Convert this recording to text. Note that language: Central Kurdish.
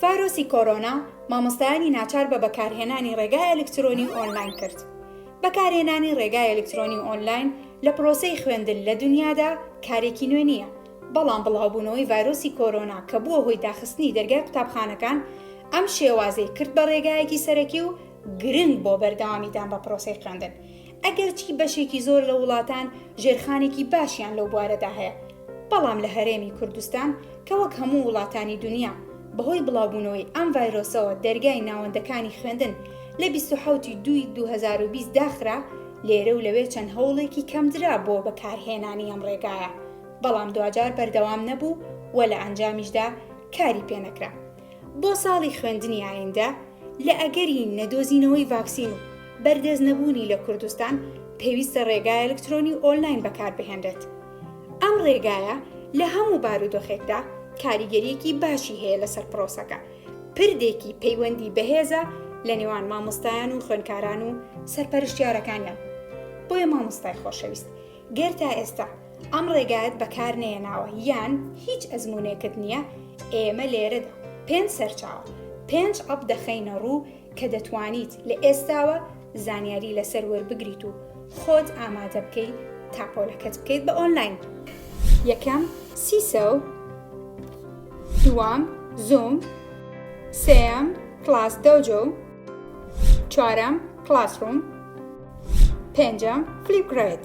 ڤایرۆسی کۆرۆنا مامۆستایانی ناچار بە بەکارهێنانی ڕێگای ئەلکترۆنی و ئۆنلاین کرد. بەکارهێنانی ڕێگای ئەلکترۆنی و ئۆنلاین لە پرۆسەی خوێندن لە دونیادا کارێکی نوێ نییە، بەڵام بڵاوبوونەوەی ڤایرۆسی کۆرۆنا کە بووە هۆی داخستنی دەرگای قوتابخانەکان، ئەم شێوازەی کرد بە ڕێگایەکی سەرەکی و گرنگ بۆ بەردەوامیدان بە پرۆسەی خوێندن. ئەگەرچی بەشێکی زۆر لە وڵاتان ژێرخانێکی باشیان لەو بوارەدا هەیە، بەڵام لە هەرێمی کوردستان کە وەک هەموو وڵاتانی دونیا بەهۆی بڵاوبوونەوەی ئەم ڤایرۆسەوە دەرگای ناوەندەکانی خوێندن لە بیست و حەوت ی دوو ی دوو هەزار و بیست داخرا، لێرە و لەوێ چەند هەوڵێکی کەمدرا بۆ بەکارهێنانی ئەم ڕێگایە، بەڵام دواجار بەردەوام نەبوو و لە ئەنجامیشدا کاری پێنەکرا. بۆ ساڵی خوێندنی ئایندە، لە ئەگەری نەدۆزینەوەی ڤاکسین و بەردەست نەبوونی لە کوردستان، پێویستە ڕێگای ئەلکترۆنی و ئۆنلاین بەکاربهێنرێت. ئەم ڕێگایە لە هەموو بارودۆخێکدا کاریگەرییەکی باشی هەیە لەسەر پرۆسەکە، پردێکی پەیوەندی بەهێزە لە نێوان مامۆستایان و خوێندکاران و سەرپەرشتیارەکانیان. بۆیە مامۆستای خۆشەویست، گەر تا ئێستا ئەم ڕێگایەت بەکارنەیەناوە یان هیچ ئەزمونێکت نییە ئێمە لێرەدا پێنج سەرچاوە پێنج ئەپ دەخەینە ڕوو کە دەتوانیت لە ئێستاوە زانیاری لەسەر وەربگریت و خۆت ئامادە بکەیت تاپۆلەکەت بکەیت بە ئۆنلاین یەکەم سیسە و دوام زوم سێم کلاس دەوجە و چوارەم کلاسڕوم پێنجەم، فلیپ گرەیت.